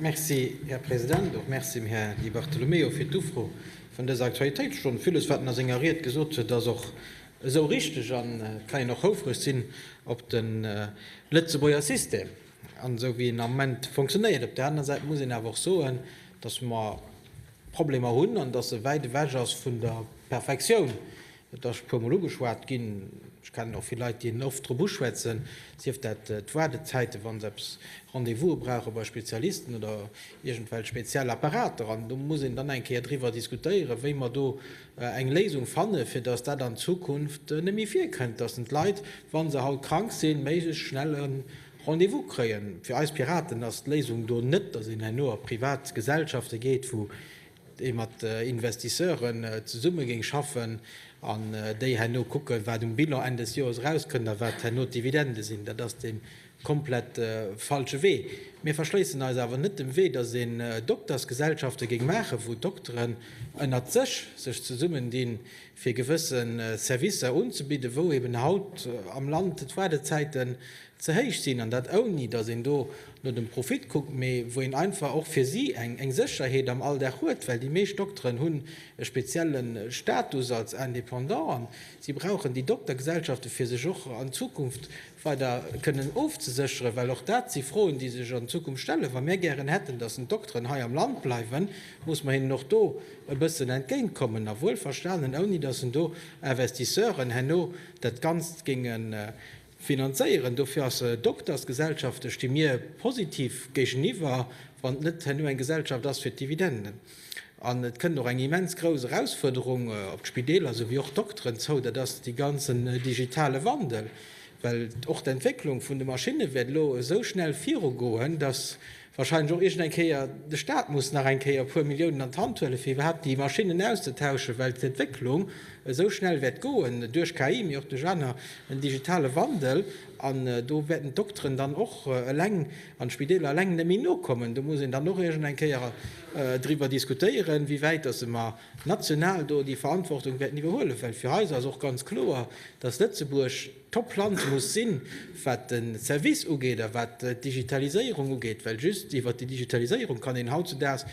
Merci, Här President. Och Merci dem Här Di Bartolomeo fir d'Ufro vun dëser Aktualitéitsstonn. Villes, wat en a senger Ried gesot huet, ass och esou richteg an et kann een och houfreg sinn op de Lëtzebuerger System an esou wéi en am Moment fonctionnéiert. Op der anerer Säit muss een awer och soen, dass mer Problemer hunn an dass e wäit ewech ass vun der Perfektioun. Et ass e puer Mol ugeschwat ginn. Ech kennen och vill Leit, déi en oft drop uschwätzen, sief dat d'Waardezäiten, wa se eppes, Rendez-vouse brauche bei Spezialisten oder iergendwelch speziell Apparater. An do muss een dann eng Kéier driwwer diskutéieren, wéi mer do eng Léisung fannen, fir dass dat an Zukunft net méi virkënnt, dass den d'Leit, wa se haut krank sinn, méiglechst schnell e Rendez-vous kréien. Fir eis Piraten ass d'Léisung do net, dass een herno a privat Gesellschafte geet, wou ee mat Investisseuren zesumme géing schaffen an déi herno kucken, wat um Bilan Enn des Joers erauskënnt a wat herno d'Dividende sinn. Dat ass de komplett falsche Wee. Mir verschléissen eis awer net dem Wee, datt een Doktersgesellschafte géing maachen, wou Dokteren ënnert sech sech zesummendinn, fir gewësse Servicer unzebidden, wou eeben haut am Land d'Waardezäiten ze héich sinn, an dat ouni datt een do no dem Profit kuckt, mee wou een einfach och fir si eng Sécherheet am Alldag huet, well déi meescht Dokteren hunn e spezielle Status als Indépendant an si brauchen déi Doktergesellschaften, fir sech och an Zukunft weider kënnen ofzesécheren, well och dat si Froen, déi sech an Zukunft stellen. Wa mir gären hätten, datt d'Dokteren hei am Land bleiwen, muss mer hinnen och do e bëssen entgéint kommen a wuelverstanen ouni datt do Investisseuren herno dat Ganzt géingen Finanzéieren. Dofir ass e Doktersgesellschaft, ech sti mir positiv géigeniwwer, wann et net herno eng Gesellschaft ass fir d'Dividenden. An et kënnt och eng immens grouss Erausfuerderung op d'Spideeler esouwéi och d'Dokteren zou, dat ass dee ganzen digitale Wandel. Well och d'Entwécklung vun de Maschinne wäert elo esou schnell virugoen, dass Wahrscheinlech och iergend eng Kéier. De Staat muss nach eng Kéier e puer Milliounen an d'Hand huelen, fir iwwerhaapt déi Maschinnen auszetauschen, well d'Entwécklung esou schnell wäert goen, duerch KI, mee och duerch aner, den digitale Wandel. An do wäerten d'Dokteren dann och eleng an d'Spideeler eleng net méi nokommen. Do muss een dann och iergend eng Kéier driwwer diskutéieren, wéi wäit dass mer national do déi Verantwortung wäerten iwwerhuelen, well fir eis ass och ganz kloer, dass Lëtzebuerg, Top Land muss sinn, wat de Service ugeet a wat d'Digitaliséierung ugeet, well just iwwert déi Digitaliséierung kann een hautzudags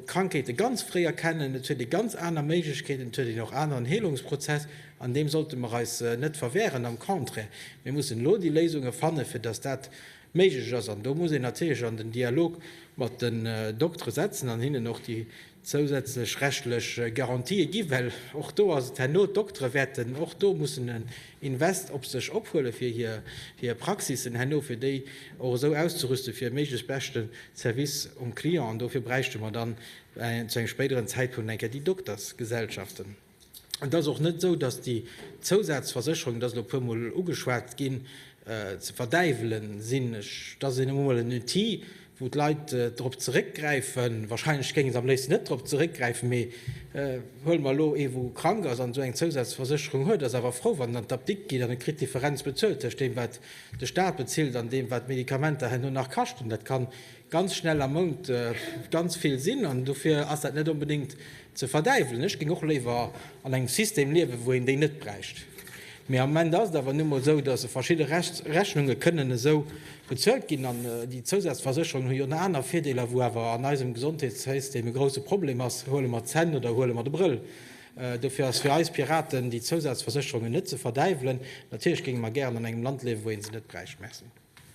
Krankheete ganz fréi erkennen, et huet ee ganz aner Méiglechkeeten, et huet een och aneren Heelungsprozess an deem sollte mer eis net verwehren, am Contraire, mir mussen elo déi Léisunge fannen, fir datt dat méiglech ass an do muss een natierlech an den Dialog mat den Doktere setzen an hinnen och déi zousätzlech rechtlech Garantië ginn, well och do ass et herno, d'Doktere wäerten och do mussen en Invest op sech ophuelen, fir hir Praxissen herno fir déi och esou auszerüsten, fir e méiglechst beschte Service um Client. An dofir bräichte mer dann zu engem spéideren Zäitpunkt eng Kéier déi Doktersgesellschaften. Et ass och net esou, datt déi Zousazversécherungen, et ass elo e puermol ugeschwat ginn, ze verdäiwele sinn. Et ass nun emol en Outil, wou d'Leit drop zeréckgräifen. Warscheinlech géinge se am léifsten net drop zeréckgräifen, mee huele mer elo ee wou krank ass an esou eng Zousazversécherung huet, ass awer frou, wann en an d'Apdikt geet an e kritt d'Differenz bezuelt tëscht deem, wat de Staat bezilt an deem, wat d'Medikamenter herno nach kaschten. Dat kann ganz schnell am Mount ganz vill sinn an dofir ass dat net onbedéngt ze verdäiwelen. Ech géing och léiwer an engem System liewen, wou een déi net bräicht. Mee am Moment ass et awer nu mol esou, dass verschidde Rechnunge kënnen esou bezuelt ginn. An déi Zousazversécherungen hu jo nach aner Virdeeler, wou awer an eisem Gesondheetssystem e grousse Problem ass, huele mer d'Zänn oder huele mer de Brëll. Dofir ass fir eis Piraten, déi Zousazversécherungen net ze verdäiwelen. Natierlech géinge mer gären an engem Land liewen, wou ee se net bräicht. Merci.